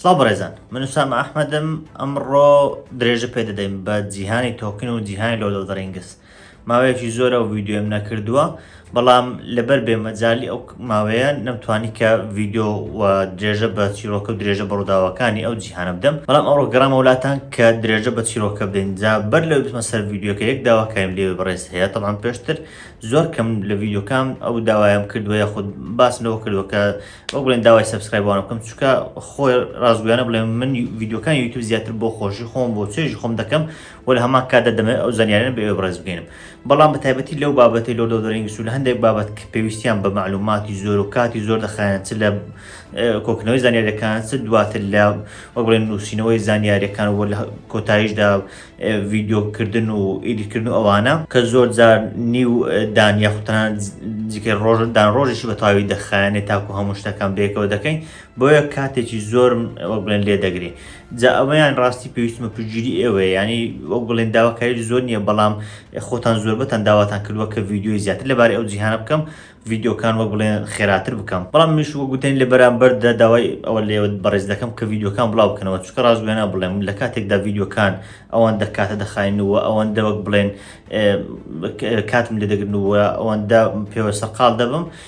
سڵاو بەڕێزان من وسام ئەحمەدم ئەمڕۆ درێژە پێ دەدەین بە جیهانی تۆکن و جیهانی لۆلۆدڕینگس ماوەیەکی زۆرە و ویددیوم نەکردووە بەڵام لەبەر بێمەجای ئەو ماوەیە نەمتوانی کە ڤیدۆ و درێژە بە چیرۆکە و درێژە بە ڕووداوەکانی ئەو جیهانە بدەم بەڵام ئەوڕۆ گەڕام وڵاتان کە درێژە بە چیرۆکە بدەین جا بەر لەوەی بچمە سەر ڤیدیۆکە یەک داواکایم لێوێ بەڕێز هەیە تەڵام پێشتر زۆر کەم لە ڤیدیۆکان ئەو داوایم کردووە یاخود باس لەوە کردووە کە وەک بڵێن داوای سەبسکرایبوانە بکەم چونکە خۆی ڕاستگویانە بڵێم من ڤیدیۆکان یوتیوب زیاتر بۆ خۆشی خۆم بۆ چێژی خۆم دەکەم وە لە هەمان کاتدا دەمەوێت ئەو زانیاریانە بە ئێوە بەڕێز بکەینم بەڵام بە تایبەتی لەو بابەتی لۆ دۆدۆرینگس و لە هەندێک بابەت کە پێویستیان بە معلوماتی زۆر و کاتی زۆر دەخایەن چ لە کۆکنەوەی زانیارەکان چ دواتر لە وەک بڵێن نووسینەوەی زانیارەکان و لە کۆتاییشدا ڤیددیوکردن و ئیدیکردن ئەوانە کە زۆر جار نیو دانیا خوتان جیکە ڕۆژدان ڕۆژیشی بە تاوی دەخایەنێت تاکو هەموو شتەکان بێکەوە دەکەین بۆیە کاتێکی زۆرم وەک بڵێن لێ دەگرێ جا ئەوەیان ڕاستی پێویستمە پژگیری ئێوە ینی وەک بڵێن داواکاری زۆر نییە بەڵام خۆتان زۆربەتان داواتان کردووە کە ڤیددیوی زیاتر لەبارەی ئەو جیهانە بکەم ڤیددیوکان وەک بڵێن خێراتر بکەم بەڵام مش وە گوتێن لە بەرامبەردا داوای ئەوە لێوە بەڕێز دەکەم کە ڤیددیوکان بڵاو بکەنەوە چکە ڕاستگوێنە بڵێم لە کاتێکدا ڤیددیوکان ئەوان دەکاتە دەخینەوە ئەوان دەوەک بڵێن کاتم لێ دەگرنەوە ئەوەندە پێوە سەرقال دەبم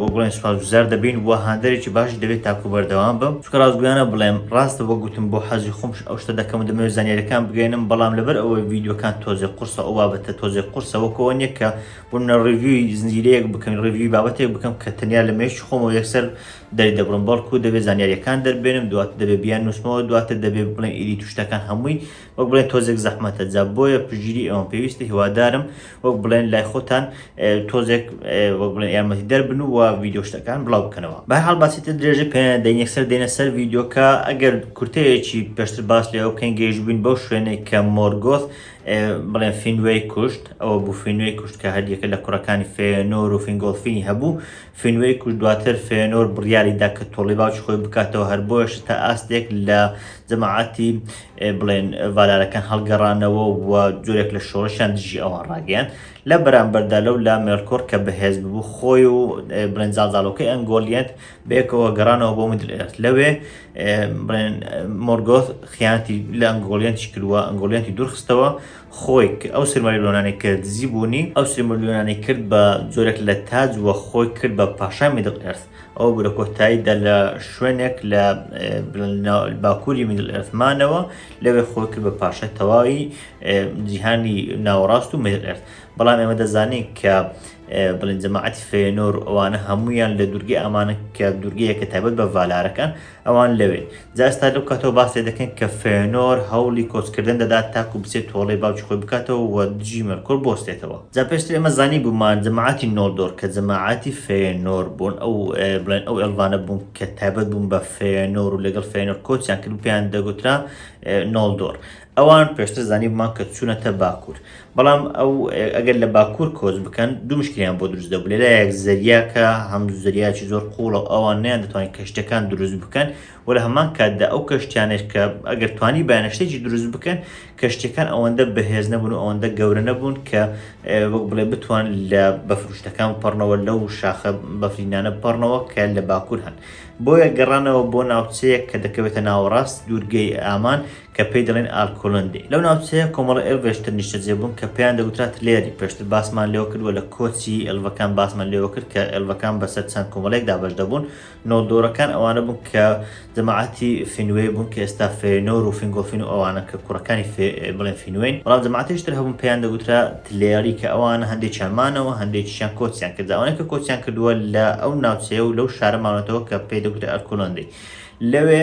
وەک بڵێن سوپاسگوزار دەبین و هاندەرێکی باشیش دەبێت تاکو بەردەوام بم، چونکە ڕاستگۆیانە بڵێم ڕاستە وەک گوتم بۆ حەزی خۆمش ئەو شتە دەکەم و دەمەوێت زانیاریەکان بگەیەنم بەڵام لەبەر ئەوەی ڤیدیۆکان تۆزێک قورسە ئەو بابەتە تۆزێک قورسە وەک ئەوە نیە کە بۆ منە ڕیڤیوی زنجیرەیەک بکەم ڕیڤیوی بابەتێک بکەم کە تەنیا لە مێشکی خۆمەوە یەکسەر دەری دەبڕم بەڵکو دەبێت زانیاریەکان دەربێنم دواتر دەبێت بیان نوسمەوە دواتر دەبێت بڵێن ئیدیت و شتەکان هەمووی وەک بڵێن تۆزێک زەحمەتە جا بۆیە پژگیری ئەوم پێویستە هیوادارم وەک بڵێن لای خۆتان تۆزێک وەک بڵێن یارمەتی دەربن و ویددیو شتەکان بڵاو بکەنەوە بە هەڵ باسیتە درێژە پێ دەین یەکسەر دێنە سەر ویددیوکە ئەگەر کورتەیەکی پێشتر باس لێەوە بکەین گەیش بووین بەو شوێنێک کە مۆرگۆث بڵێن فینوێی کوشت ئەوە بوو فینوێی کوشت کە هەریەکە لە کوڕەکانی فێنۆر و فینگۆڵفینی هەبوو فینوەی کوشت دواتر فێنۆر بڕیاری دا کە تۆڵەی باوکی خۆی بکاتەوە هەر بۆیەش تا ئاستێک لە جەماعەتی بڵێن ڤالارەکان هەڵگەڕانەوە و جۆرێک لە شۆڕشیان دژی ئەوان ڕاگەیان لە بەرامبەردا لەو لا مێلکۆر کە بەهێز ببوو خۆی و بڵێن زاڵزاڵۆکەی ئەنگۆلیەت بەیەکەوە گەڕانەوە بۆ مدل ئێرت لەوێ بڵێن مۆرگۆث خیانەتی لە ئەنگۆلیەنتی کردووە ئەنگۆلیەنتی دوورخستەوە خۆی کە ئەو سیلماریلۆنانەی کە دزی بوونی ئەو سیلمریلۆنانەی کرد بە جۆرێک لە تاج وە خۆی کرد بە پاشای میدڵ ئێرث ئەوە بوو لە کۆتایی دا لە شوێنێک لە باکووری میدڵ ئێرث مانەوە لەوێ خۆی کرد بە پاشای تەواوی جیهانی ناوەڕاست و میدڵ ئێرث بەڵام ئێمە دەزانین کە بڵین جەماعەتی فێنۆر ئەوانە هەمویان لە دوورگەی ئامانە کە دوورگەیەکە تایبەت بە ڤالارەکان ئەوان لەوێن. جا ئێستا لەو کاتەوە باس لێ دەکەین کە فێنۆر هەوڵی کۆچکردن دەدات تاکو بچێت تۆڵەی باوکی خۆی بکاتەوە و دژی مێلکۆر بوەستێتەوە. جا پێشتر ئێمە زانیبوومان جەماعەتی نۆلدۆر کە جەماعەتی فێنۆر بوون ئەو بڵێن ئەو ئێلڤانە بوون کە تایبەت بوون بە فێنۆر و لەگەڵ فێنۆر کۆچیان کرد و پێیان دەگوترا نۆلدۆر. ئەوان پێشتر زانیبوومان کە چوونەتە باکوور، بەڵام ئەو ئەگەر لە باکوور کۆچ بکەن دوو مشکلیان بۆ دروست دەبوو، لەلایەک زەریاکە هەم زەریاکی زۆر قوڵە و ئەوان نیان دەتوانین کەشتەکان دروست بکەن و لە هەمان کاتدا ئەو کەشتیانەش کە ئەگەر توانی بایانە شتێکی دروست بکەن کەشتەکان ئەوەندە بەهێز نەبوون و ئەوەندە گەورە نەبوون کە وەک بڵێ بتوان لە بەفروشتەکان بپەڕنەوە لەو شاخە بەفرینانە بپەڕنەوە کە لە باکوور هەن بۆیە گەڕانەوە بۆ ناوچەیەک کە دەکەوێتە ناوەڕاست دوورگەی ئامان کە پێی دەڵێن ئالکۆلندی. لەو ناوچەیە کۆمەڵە ئێلڤێش تر نیشتەجێ بوون کە پێیان دەگوترا تلێری، پێشتر باسمان لێوە کرد، وە لە کۆچی ئێلڤەکان باسمان لێوە کرد کە ئێلڤەکان بەسەر چەند کۆمەڵەیەک دابەش دەبوون، نۆلدۆرەکان ئەوانە بوون کە جەماعەتی فینوێی بوون کە ئێستا فێنۆر و فینگۆلفین و ئەوانە کە کوڕەکانی فێ بڵێن فینوێین، بەڵام جەماعەتێکی تر هەبوون پێیان دەگوترا تلێری کە ئەوانە هەندێکیان مانەوە هەندێکیشیان کۆچیان کرد، ئەوانەی کە کۆچیان کردووە لە ئەو ناوچەیە و لەو شارە ماونەتەوە کە پێی دەگوترا ئەلکۆلندی لەوێ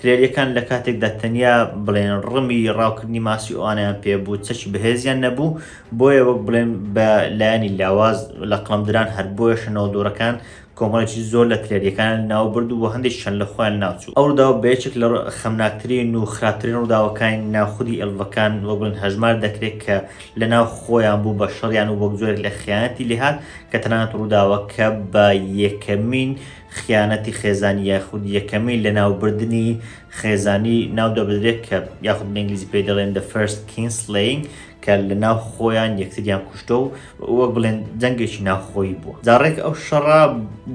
ترێلیەکان لە کاتێکدا تەنیا بڵێن ڕمی ڕاوکردنی ماسی ئەوانیان پێ بوو چەکی بەهێزیان نەبوو بۆیە وەک بڵێن بە لایەنی لاواز لە قڵمدران هەر بۆیە شەنەوە دۆڕەکان کۆمەڵێکی زۆر لە ترێلیەکان ناو برد و هەندێک چەند لە خۆیان ناوچوو ئەو ڕووداوە بە یەکێک لە خەمناکترین و خراپترین ڕووداوەکانی ناو خودی ئێلڤەکان وەک بڵێن هەژمار دەکرێت کە لە ناو خۆیان بوو بە شەڕیان و وەک جۆرێک لە خیانەتی لێهات کە تەنانەت ڕووداوەکە بە یەکەمین خیانەتی خێزانی یاخود یەکەمین لەناوبردنی خێزانی ناودەبدرێت کە یاخود بە ئینگلیزی پێی دەڵێن The First Kinslaying کە لە ناو خۆیان یەکتریان کوشتە و وەک بڵێن جەنگێکی ناوخۆی بووە جاڕێک ئەو شەڕا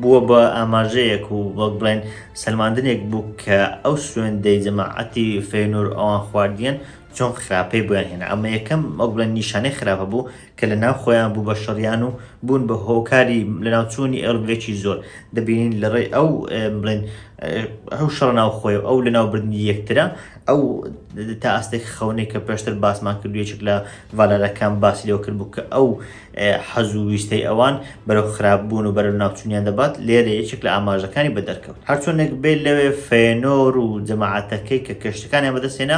بووە بە ئاماژەیەک و وەک بڵێن سلماندنێک بوو کە ئەو سوێندەی جەماعەتی فێنور ئەوان خواردیان چۆن خراپەی بۆیان هێنا ئەمە یەکەم وەک بڵێن نیشانەی خراپە بوو کە لە ناو خۆیان بوو بە شەڕیان و بوون بە هۆکاری لە ناو چوونی ئێڵگرێکی زۆر دەبینین لە ڕێی ئەو بڵێن ئەو شەڕ ناو خۆی و ئەو لە ناو بردنی یەکترە ئەو تا ئاستێک خەونێک کە پێشتر باسمان کردوێچک لە ڤالارەکان باسی لەوە کرد بوو کە ئەو حەز و ویستەی ئەوان بەرەو خراپ بوون و بەرە ناوچونیان دەبات لێرە یەکێک لە ئاماژەکانی بە دەرکەوت هەرچۆنێک بێت لەوێ فێنۆر و جەماعاتەکەی کە کەشتەکانیان بەدەستێنا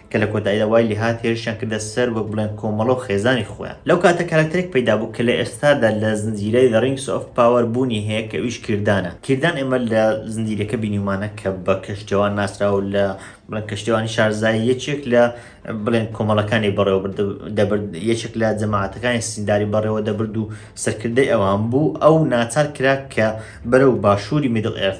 کە لە کۆتاییدا وای لێهات هێرشیان کردە سەر وەک بڵێن کۆمەڵە و خێزانی خۆیان. لەو کاتە کارەکتەرێک پەیدا بوو کە لە ئێستادا لە زنجیرەی The Rings of Power بوونی هەیە کە ئەویش کیردانە. کیردان ئێمە لە زنجیرەکە بینیومانە کە بە کەشتیەوان ناسراوە و لە بڵێن کەشتیەوانی شارزای یەکێک لە بڵێن کۆمەڵەکانی بەڕێوە برد دەبرد یەکێک لە جەماعەتەکانی سینداری بەڕێوە دەبرد و سەرکردەی ئەوان بوو ئەو ناچار کرا کە بەرەو باشووری میدڵ ئێرث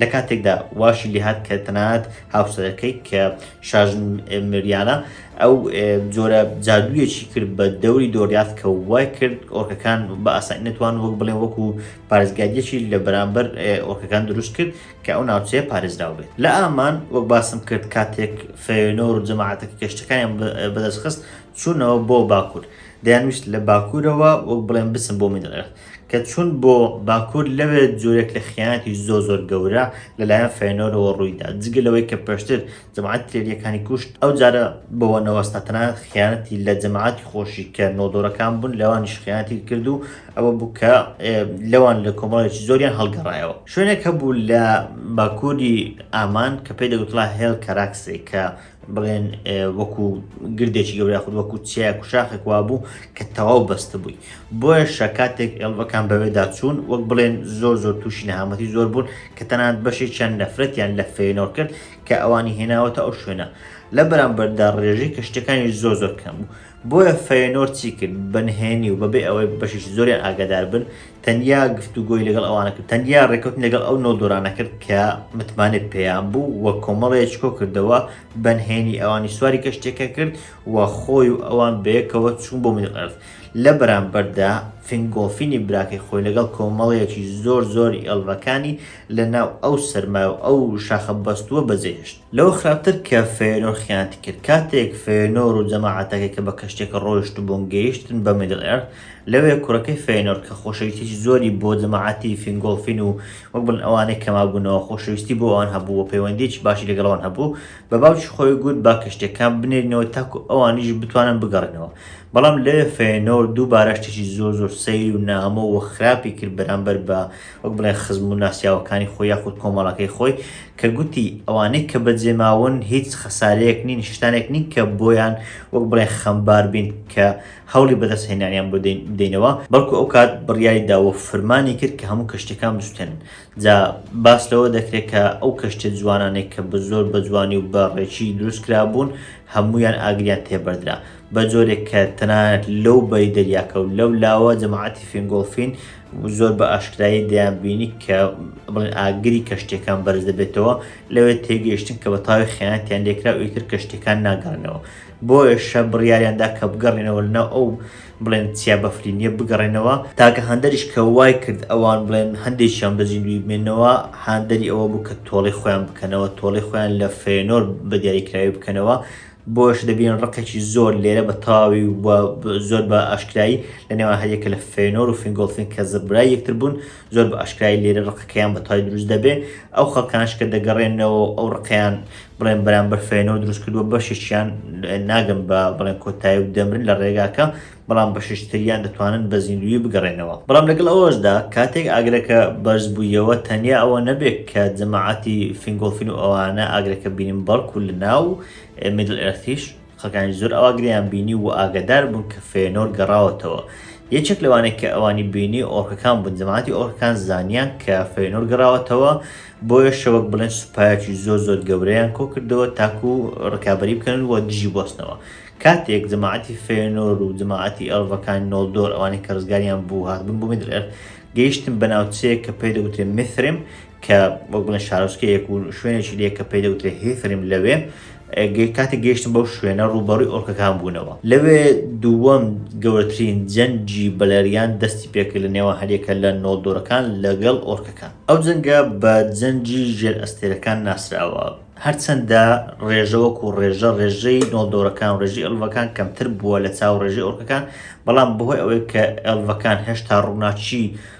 لە کاتێکدا واشی لێهات کە تەنانەت هاوسەرەکەی کە شاژن مریانە ئەو جۆرە جادوویەکی کرد بە دەوری دۆریاف کە وای کرد ئۆرکەکان بە ئاسانی نتوان وەک بڵێ وەکو پارێزگاریەکی لە بەرامبەر ئۆرکەکان دروست کرد کە ئەو ناوچەیە پارێزراو بێت لە ئامان وەک باسم کرد کاتێک فێنۆر و جەماعاتەکە گەشتەکانیان بەدەستخست چوونەوە بۆ باکوور دەیانویست لە باکوورەوە وەک بڵێن بچن بۆ میدڵێرت کە چوون بۆ باکوور لەوێ جۆرێک لە خیانەتی زۆر زۆر گەورە لەلایەن فەیەنۆرەوە ڕوویدا جگە لەوەی کە پێشتر جەماعەت ترێلیەکانی کوشت ئەو جارە بەوە نەوەستا تەنانەت خیانەتی لە جەماعەتی خۆشی کە نۆدۆرەکان بوون لەوانیش خیانەتی کرد و ئەوە بوو کە لەوان لە کۆمەڵێکی زۆریان هەڵگەڕایەوە شوێنێک هەبوو لە باکووری ئامان کە پێی دەگوتڵا هێڵ کەراکسێ کە بڵێن وەکو گردێکی گەورە خود وەکو چیایەک و شاخێک وابوو کە تەواو بەستە بووی بۆیە شەکاتێک ئێڵبەکان بەوێدا چوون وەک بڵێن زۆر زۆر تووشی نەهامەتی زۆر بوون کە تەنات بەشێک چەند نەفرەتیان لە فێنۆر کرد کە ئەوانی هێناوەتە ئەو شوێنە لە بەرامبەردا ڕێژەی کە شتەکانی زۆر زۆر کەم بوو بۆیە فێنۆر چی کرد بەنهێنی و بەبێ ئەوەی بەشێکی زۆریان ئاگادار بن تەنیا گفتوگۆی لەگەڵ ئەوانە کرد تەنیا ڕێکوتن لەگەڵ ئەو نۆدۆرانە کرد کە متمانێت پێیان بوو و کۆمەڵەیە چکۆ کردەوە بەنهێنی ئەوانی سواری کەشتێکە کرد و خۆی و ئەوان بەیەکەوە چوون بۆ منی ئەرز لە بەرامبەردا فنگۆفینی براکەی خۆی لەگەڵ کۆمەڵەیەکی زۆر زۆری ئەڵڕەکانی لە ناو ئەو سەرما و ئەو شاخە بەستووە بەجێهشت لەو خراپتر کە فێنۆر خیانتی کرد کاتێک فێنۆر و جەماعاتەکەی کە بە کەشتێکە ڕۆیشت بۆن گەیشتن بە میدل ئەرد لەوێ کوڕەکەی فەینۆرد کە خۆشەویستیی زۆری بۆ جەماعەتی فینگۆڵفین و وەک بڵێن ئەوانەی کە مابوونەوە خۆشەویستی بۆ ئەوان هەبوو و پەیوەندییەکی باشی لەگەڵ ئەوان هەبوو، بە باوکی خۆی گوت با کەشتییەکان بنێرینەوە تاکو ئەوانیش بتوانن بگەڕێنەوە. بەڵام لەوێ فەینۆرد دووبارە شتێکی زۆر زۆر سەیر و نامۆ و خراپی کرد بەرامبەر بە وەک بڵێن خزم و ناسیاوەکانی خۆی یاخود کۆمەڵەکەی خۆی کە گوتی ئەوانەی کە بەجێماون هیچ خەسارەیەک نین شتانێک نین کە بۆیان وەک بڵێن خەمبار بین کە هەوڵی بەدەستهێنانیان بۆ بدەینەوە، بەڵکو ئەو کات بڕیاری دا و فرمانی کرد کە هەموو کەشتیەکان بسوتێنن، جا باس لەوە دەکرێت کە ئەو کەشتیە جوانانەی کە بە زۆر بە جوانی و بە ڕێکی دروست کرابوون هەموویان ئاگریان تێ بەردرا بە جۆرێک کە تەنانەت لەو بەری دەریاکە و لەو لاوە جەماعەتی فینگۆڵفین زۆر بە ئاشکرایی دەیان بینی کە بڵێن ئاگری کەشتیەکان بەرز دەبێتەوە لەوێ تێگەیشتن کە بە تاوی خیانەتیان لێکرا و ئیتر کەشتیەکان ناگەڕێنەوە بۆیەشە بڕیاریان دا کە بگەڕێنەوە لەناو ئەو بڵێن چیا بەفرینیە بگەڕێنەوە، تاکە هاندەریش کە وای کرد ئەوان بڵێن هەندێکیان بە زیندووی بمێنەوە هاندەری ئەوە بوو کە تۆڵەی خۆیان بکەنەوە، تۆڵەی خۆیان لە فەیەنۆر بە دیاریکراوی بکەنەوە، بۆیەش دەبینین ڕقێکی زۆر لێرە بە تەواوی و زۆر بە ئاشکرایی لە نێوان هەریەکە لە فەیەنۆر و فینگۆڵفین کە زڕبرای یەکتر بوون، زۆر بە ئاشکرای لێرە ڕقەکەیان بە تای دروست دەبێ ئەو خەڵکانش کە دەگەڕێنەوە ئەو ڕقیان بڵێن بەرامبەر فێنەوە دروست کردووە بەشیشیان ناگەم بە بڵێن کۆتایی و دەمرن لە ڕێگاکە بەڵام بەششتریان دەتوانن بە زیندوی بگەڕێنەوە بەڵام لەگەڵ ئەوەشدا کاتێک ئاگرەکە بەرز بوویەوە تەنیا ئەوە نەبێت کە جەماعەتی فینگۆڵفین و ئەوانە ئاگرەکە بینن بەڵکو لە ناو میدل ئەرتیش خەکانی زۆر ئەوا گریان بینی و ئاگەدار بوون کە فێنۆر گەڕاوەتەوە یەکێک لەوانێک کە ئەوانی بینی ئۆرکەکان بوون جەماعەتی ئۆرکەکان زانیان کە فێنۆر گەڕاوەتەوە بۆیە شەوەک بڵێن سوپایەکی زۆر زۆر گەورەیان کۆ کردەوە تاکو ڕکابی بکەن و دژی بستنەوە کاتێک جەماعەتی فێنۆر و جەماعەتی ئەڵڤەکان نۆلدۆر ئەوانی کە ڕزگاریان بوو هاتبوون بۆ میدرێر گەیشتن بە ناوچەیە کە پێی دەوترێن میثرم کە وەک بڵێن شارۆچکەیەک و شوێنێکی لێ کە پێی دەوترێ هیفرم لەوێ کاتێک گەیشتم بەو شوێنە ڕووبەڕووی ئۆرکەکان بوونەوە لەوێ دووەم گەورەترین جەنگی بەلەریان دەستی پێکرد لە نێوان هەریەکە لە نۆڵدۆرەکان لەگەڵ ئۆرکەکان ئەو جەنگە بە جەنگی ژێر ئەستێرەکان ناسراوە هەرچەندە ڕێژەوەک و ڕێژە ڕێژەی نۆڵدۆرەکان و ڕێژی ئەلڤەکان کەمتر بووە لە چاو ڕێژی ئۆرکەکان بەڵام بەهۆی ئەوەی کە ئەلڤەکان هێشتا ڕووناچی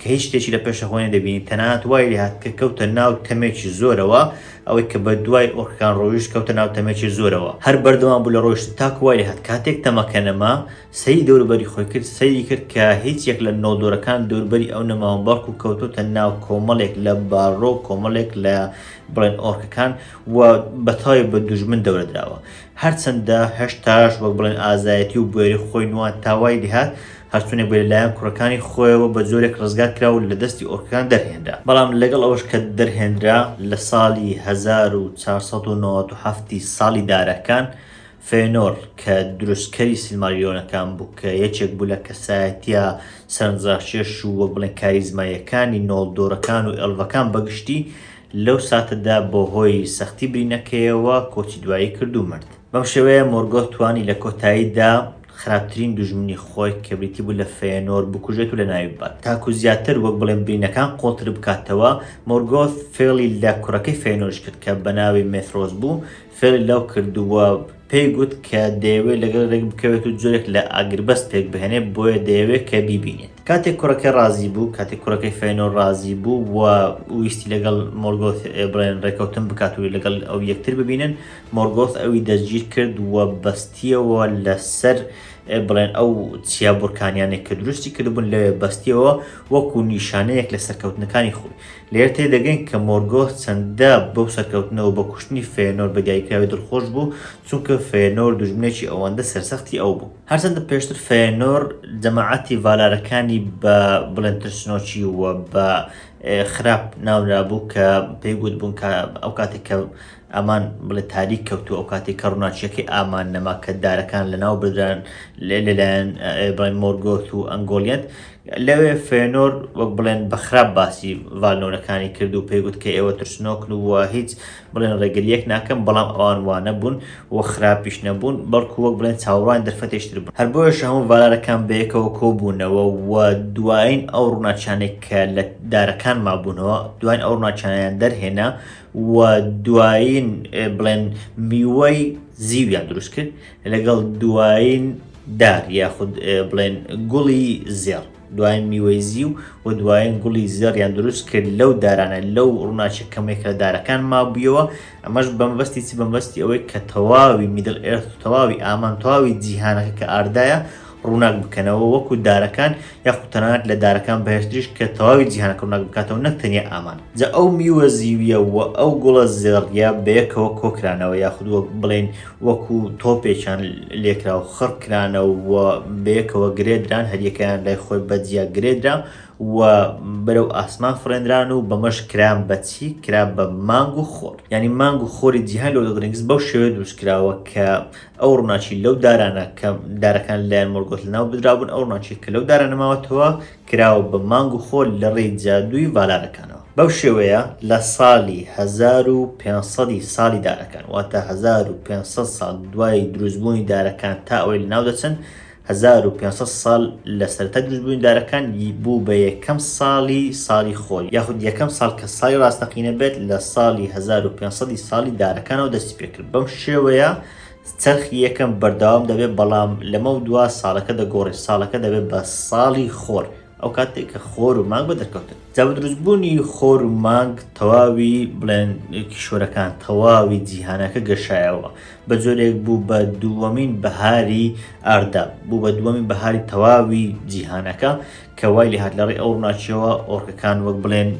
کە هیچ شتێکی لە پێشە خۆی نەدەبینی، تەنانەت وای لێهات کە کەوتە ناو تەمێکی زۆرەوە، ئەوەی کە بە دوای ئۆرکەکان ڕۆیشت کەوتە ناو تەمێکی زۆرەوە، هەر بەردەوام بوو لە ڕۆیشتن تاکو وای لێهات کاتێک تەمەکە نەما، سەیری دەوروبەری خۆی کرد، سەیری کرد کە هیچ یەک لە نۆدۆرەکان دەوربەری ئەو نەماون بەڵکو کەوتۆتە ناو کۆمەڵێک لە بارڕۆ و کۆمەڵێک لە بڵێن ئۆرکەکان و بەتەواوی بە دوژمن دەورە دراوە، هەرچەندە هێشتاش وەک بڵێن ئازایەتی و بوێری خۆی نواند تا وای لێهات هەرچونێک بێت لەلایەن کوڕەکانی خۆیەوە بە جۆرێک ڕزگار کرا و لە دەستی ئۆرکەکان دەرهێنرا، بەڵام لەگەڵ ئەوەش کە دەرهێنرا لە ساڵی هەزار و چوار سەد و نەوەد و حەفت ی ساڵی دارەکان، فێنۆر کە دروستکەری سیلماریۆنەکان بوو کە یەکێک بوو لە کەسایەتییە سەرنجڕاکێش و وەک بڵێن کاریزماییەکانی نۆڵدۆرەکان و ئێڵڤەکان بەگشتی، لەو ساتەدا بۆ هۆی سەختی برینەکەیەوە کۆچی دوایی کرد و مرد. بەم شێوەیە مۆرگۆث توانی لە کۆتاییدا خراپترین دوژمنی خۆی کە بریتی بوو لە فێنۆر بکوژێت و لەناوی ببات. تاکو زیاتر وەک بڵێن برینەکان قوڵتر بکاتەوە، مۆرگۆث فێڵی لە کوڕەکەی فێنۆریش کرد کە بەناوی مێثرۆس بوو فێڵی لەو کرد و پێی گوت کە دەیەوێت لەگەڵ رێک بکەوێت و جۆرێک لە ئاگربەست پێک بهێنێت بۆیە دەیەوێت کە بیبینێت کاتێک کوڕەکەی ڕازی بوو کاتێک کوڕەکەی فەینۆر ڕازی بوو و ویستی لەگەڵ مۆرگۆث بڵێن ڕێکەوتن بکات و لەگەڵ ئەو یەکتر ببینن مۆرگۆث ئەوی دەستگیر کرد و بەستیەوە لەسەر بڵێن ئەو چیا بورکانیانێک کە دروستی کردبوون لەوێ بەستیەوە وەکو نیشانەیەک لە سەرکەوتنەکانی خۆی لێرە تێدەگەین کە مۆرگۆث چەندە بەو سەرکەوتنە و بە کوشتنی فێنۆر بە دایکراوی دڵخۆش بوو، چونکە فێنۆر دوژمنێکی ئەوەندە سەرسەختی ئەو بوو. هەرچەندە پێشتر فێنۆر جەماعەتی ڤالارەکانی بە بڵێن ترسنۆکی و بە خراپ ناونرابوو کە پێی گوتبوون کە ئەو کاتێک کە ئامان بڵێ تاریک کەوتو ئەو کاتی کە ڕووناچیەکەی ئامان نەما کە دارەکان لە ناو بدران لەلایەن ئێبڕای مۆرگۆت و ئەنگۆلیەت لەوێ فێنۆر وەک بڵێن بە خراپ باسی ڤالنۆرەکانی کرد و پێیگوت کە ئێوە ترسنۆکن و هیچ بڵێن ڕێگریەک ناکەم بەڵام ئەوان وانە بوون و خراپیش نەبوون بەڵکو وەک بڵێن چاوەڕوان دەرفەتێشتر بوون هەر بۆیش هەموو ڤالارەکان بەیەکەوە کۆبوونەوە و دوایین ئەو ڕووناچانێک کە لە دارەکان مابوونەوە دوایین ئەو ڕووناچانیان دەرهێنا و دوایین بڵێن میوەی زیویان دروست کرد لەگەڵ دوایین دار یاخود بڵێن گوڵی زێڕ دوایین میوەی زیو و دوایین گوڵی زێڕیان دروست کرد لەو دارانە لەو ڕووناچە کەمێک لە دارەکان مابوویەوە ئەمەش بەمبەستی چ بەمبەستی ئەوەی کە تەواوی میدل ئێرت تەواوی ئامان تەواوی جیهانەکە کە ئاردایە ڕووناک بکەنەوە وەکو دارەکان یاخود تەنانەت لە دارەکان بەهێزتریش کە تەواوی جیهانەکە ڕووناک بکاتەوە نەک تەنیا ئامان جا ئەو میوە زیویە و ئەو گوڵە زێڕیە بەیەکەوە کۆکرانەوە یاخود وەک بڵێین وەکو تۆپێکیان لێکرا و خڕ کرانەوە بەیەکەوە گرێدران هەریەکەیان لای خۆی بەجیا گرێدرا و بەرەو ئاسمان فڕێنران و بەمەش کران بەچی کرا بە مانگ و خۆر ینی مانگ و خۆری جیهان لۆدۆدرنگس بەو شێوەیە دروستکراوە کە ئەو ڕووناکی لەو دارانە کە دارەکان لەلایەن مۆرگۆت لەناو بدرابوون، ئەو ڕووناکییە کە لەو دارانە ماوەتەوە، کراوە بە مانگ و خۆر لەڕێی جادووی ڤالارەکانەوە. بەو شێوەیە لە ساڵی هەزار و پێنج سەد ی ساڵی دارەکان، واتە هەزار و پێنج سەد ساڵ دوای دروستبوونی دارەکان تا ئەوەی لەناو دەچن، هەزار و پێنج سەد ساڵ لە سەرەتای دروستبوونیدارەکان بوو بە یەکەم ساڵی ساڵی خۆر، یاخود یەکەم ساڵ کە ساڵی ڕاستەقینە بێت لە ساڵی هەزار و پێنج سەد ی ساڵی دارەکانەوە دەستی پێکرد، بەم شێوەیە چەرخی یەکەم بەردەوام دەبێت بەڵام لەمەودوا ساڵەکە دەگۆڕێت، ساڵەکە دەبێت بە ساڵی خۆر. ئەو کاتێک کە خۆر و مانگ بە دەرکەوتن جا بە دروستبوونی خۆر و مانگ تەواوی بڵێن کیشۆرەکان تەواوی جیهانەکە گەشایەوە بە جۆرێک بوو بە دووەمین بەهاری ئاردا بوو بە دووەمین بەهاری تەواوی جیهانەکە کە وای لە هاات لەڕێ ئەو ڕناچەوە ئۆرکەکان وەک بڵێن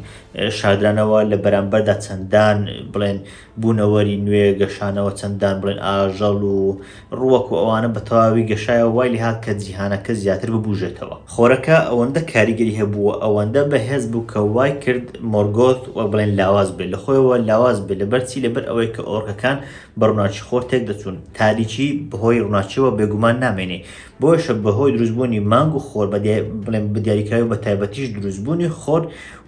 شادرانەوە لە بەرامبەردا چەندان بڵێن بوونەوەری نوێ، گەشانەوە چەندان بڵێن ئاژەڵ و ڕووەک و ئەوانە بە تەواوی گەشایەوە وای لێ هات کە جیهانەکە زیاتر ببووژێتەوە. خۆرەکە ئەوەندە کاریگەری هەبوو و ئەوەندە بەهێز بوو کە وای کرد مۆرگۆث وەک بڵێن لاواز بێت لە خۆیەوە لاواز بێت لەبەر چی لەبەر ئەوەی کە ئۆرکەکان بە ڕووناکی خۆر تێک دەچوون تاریکی بە هۆی ڕووناکیەوە بێگومان نامێنێ بۆیەشە بە هۆی دروست بوونی مانگ و خۆر بە بڵێن بە دیاریکراوی بە تایبەتیش دروست بوونی خۆر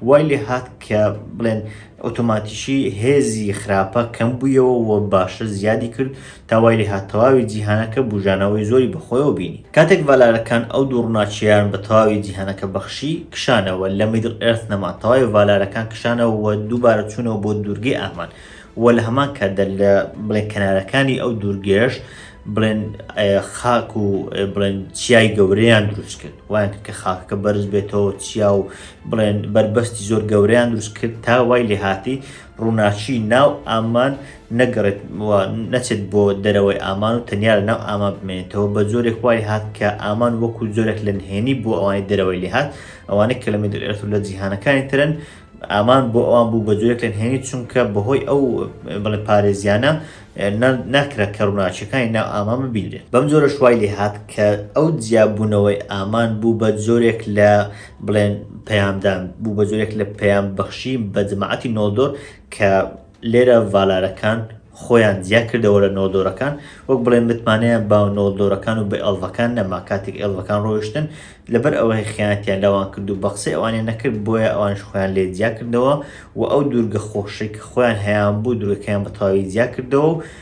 وای لێ هات کە بڵێن ئۆتۆماتیکی هێزی خراپە کەم بوویەوە و باشە زیادی کرد تا وای لێهات تەواوی جیهانەکە بووژانەوەی زۆری بە خۆیەوە بینی. کاتێک ڤالارەکان ئەو دوو ڕووناکییەیان بە تەواوی جیهانەکە بەخشی، کشانەوە، لە میدڵ ئێرث نەما، تەواوی ڤالارەکان کشانەوە و دووبارە چوونەوە بۆ دوورگەی ئاهمان و لە هەمان کاتدا لە بڵێن کەنارەکانی ئەو دوورگەیەش بڵێن خاک و بڵێن چیای گەورەیان دروست کرد وایان کرد کە خاکەکە بەرز بێتەوە چیا و بڵێن بەربەستی زۆر گەورەیان دروست کرد تا وای لێ هاتی ڕووناچی ناو ئامان نەگەڕێت نەچێت بۆ دەرەوەی ئامان و تەنیا لە ناو ئامان بمێنێتەوە بە زۆرێک وای هات کە ئامان وەکو زۆرێک لە نهێنی بۆ ئەوانی دەرەوەی لێهات ئەوانەی کەلەمی دەرێت و لە جیهانەکانی ترن ئامان بۆ ئەوان بوو بە جۆرێک لە نهێنی چونکە بەهۆی ئەو بڵێ پارێزیانە ناکرا کە ڕووناچەکانی ناو ئامان ببینرێت بەم جۆرە شوای لێ هات کە ئەو جیاببوونەوەی ئامان بوو بە جۆرێک لە بڵێن پەیامدان بوو بە جۆرێک لە پەیام بەخشی بە جماعەتی نۆدۆر کە لێرە ڤالارەکان خۆیان جیا کردەوە لە نۆڵدۆرەکان وەک بڵێن متمانەیان بە نۆڵدۆرەکان و بە ئێڵڤەکان نەما کاتێک ئێڵڤەکان ڕۆیشتن لەبەر ئەوەی خیانەتیان لەوان کرد و بە قسەی ئەوانیان نەکرد بۆیە ئەوانش خۆیان لێ جیا کردەوە و ئەو دوورگە خۆشەی کە خۆیان هەیان بوو دوورگەکەیان بە تەواوی جیا کردەوە و